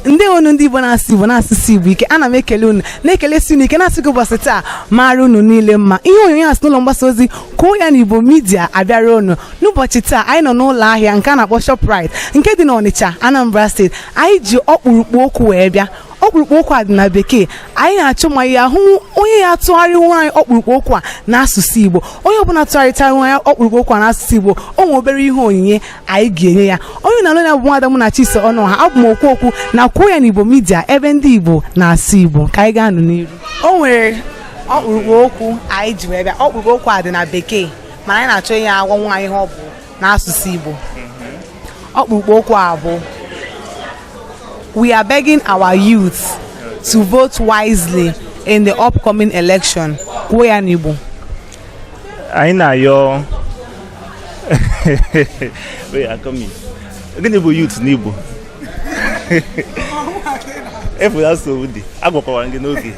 ndewo nụ ndị igbo na-asụ igbo na-asụsi igbo ike ana m ekele unu na-ekelesi unu ike na-asị gị ụbọchị taa mara unu niile mma ihe onyonyo a si n'ụlọ mgbasa ozi kwuo ya na igbo midia abịara unu n'ụbọchị taa anyị nọ n'ụlọ ahịa nke a na-akpọ shoprite nke dị n'ọnịcha anambra steeti anyị ji ọkpụrụkpụ okwu wee bịa ọkpụrụkpụ okwu a dị na bekee anyị na-achọ ma a ya-ahụ onye ya-atụgharịnwu anyị ọkpụrụkpụ okwu a n'asụsụ igbo onye ọbụla tụgharịtara anyị ọkpụrụkpụ okwu a n'asụsụ igbo o nwere obere ihe onyinye anyị ga-enye ya onye ị na-anụ olu ya bụ nwada munachiso ọnụọha abụ m okwu okwu na kwuo ya n'igbo midia ebe ndị igbo na-asụ igbo ka anyị gaa nụ n'iru o nwere ọkpụrụkpụ okwu anyị ji wee bịa ọkpụrụkpụ okwu a dị na bekee mana anyị na-achọ onye ya-agwanwu anyị ihe ọ bụ n'asụsụ Igbo ọkpụrụkpụ okwu a bụ we are begging our youth to vote wisely in the upcoming election kwuo ya n'Igbo anyị na-ayọ gịnị bụ youth n'Igbo ị fụla nsogbu dị agwakwara m gị n'oge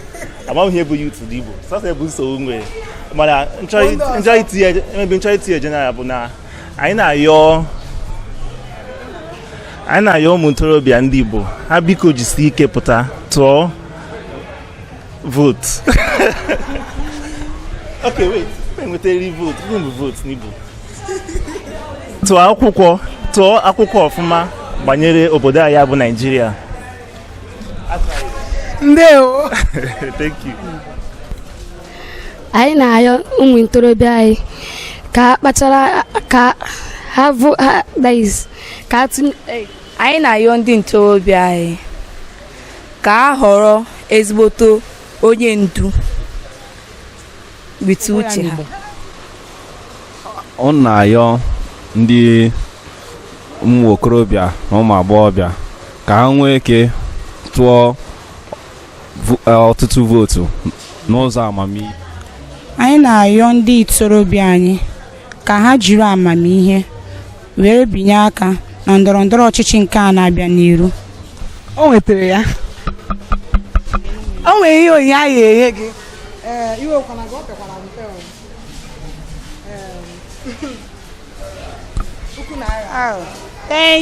amaghị m ihe bụ youth n'igbo sọsọ ya bụ nsogbu m nwere mana m chọọ itinye maybe m chọọ itinye general bụ na anyị na-ayọ anyị na-ayọ ụmụ ntorobịa ndị igbo ha biko jisi ike pụta tụọ vootu okay wait enwetara vootu gịnị bụ vootu n'igbo tụọ akwụkwọ tụọ akwụkwọ ọfụma gbanyere obodo anyị bụ Naijiria ndewo thank you anyị na-ayọ ụmụ ntorobịa anyị ka ha kpachara ka ha bụ ha that is ka ha tụnye anyị na-ayọ ndị ntorobịa anyị ka ha họrọ ezigboto onye ndu with uche ha ọ na-ayọ ndị ụmụ okorobịa na ụmụ agbọghọbịa ka ha nwee ike tụọ eh, ọtụtụ vootu n'ụzọ amamihe anyị na-ayọ ndị ntorobịa anyị ka ha jiri amamihe were binye aka na ndọrọ ndọrọ ọchịchị nke a na-abịa n'iru o nwetara ya o nwere ihe onyinye anyị ya-enye gị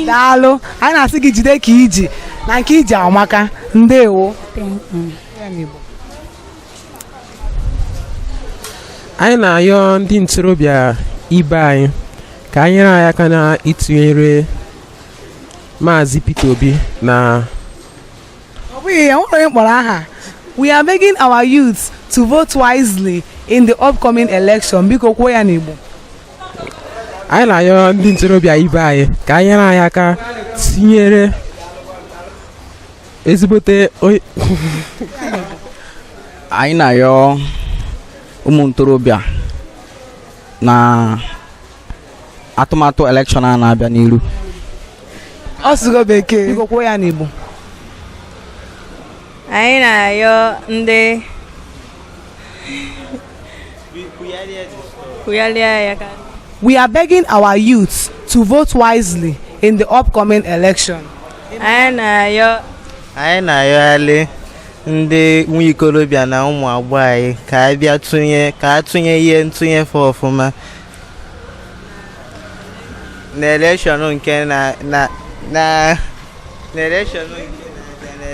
daalụ anyị na-asị gị jide ka i ji na nke i ji amaka ndewo anyị na-ayọ ndị ntorobịa ibe anyị ka ha nyere anyị aka na ịtụnyere maazị Peter Obi na ọ bụghị ya nwere onye m kpọrọ aha we are begging our youth to vote wisely in the upcoming election biko kwuo ya n'Igbo anyị na-ayọ ndị ntorobịa ibe anyị ka ha nyere anyị aka tinyere ezigbote anyị na-ayọ ụmụ ntorobịa na atụmatụ elekshọn a na-abịa n'iru ọ sụgo bekee biko kwuo ya n'Igbo anyị na-ayọ ndị We are begging our youths to vote wisely in the upcoming election. Anyị na-ayọ anyị na-ayọghalị ndị nwa ikolobịa na ụmụ agbọghọ anyị ka a bịa tụnye ka a tụnye ihe ntụnye fa ọfụma na elekshọn nke na na na na elekshọn nke na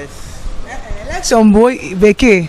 elekshọn bụ bekee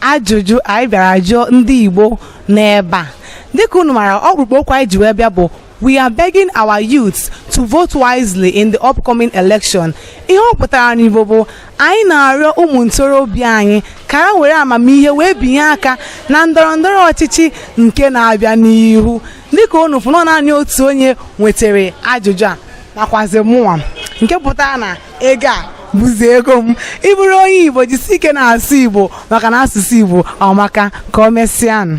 ajụjụ anyị bịara jụọ ndị Igbo n'ebe a dịka unu mara ọkpụrụkpụ okwu anyị ji wee bịa bụ we are begging our youths to vote wisely in the upcoming election ihe ọ pụtara n'Igbo bụ anyị na-arịọ ụmụ ntorobịa anyị ka ha were amamihe wee binye aka na ndọrọ ndọrọ ọchịchị nke na-abịa n'ihu dịka unu fụnọ naanị otu onye nwetara ajụjụ a nakwazi mụnwa nke pụtara na ego a bụzi ego m ị bụrụ onye igbo jisi ike na-asụ igbo maka na asụsụ igbo amaka ka o mesịanụ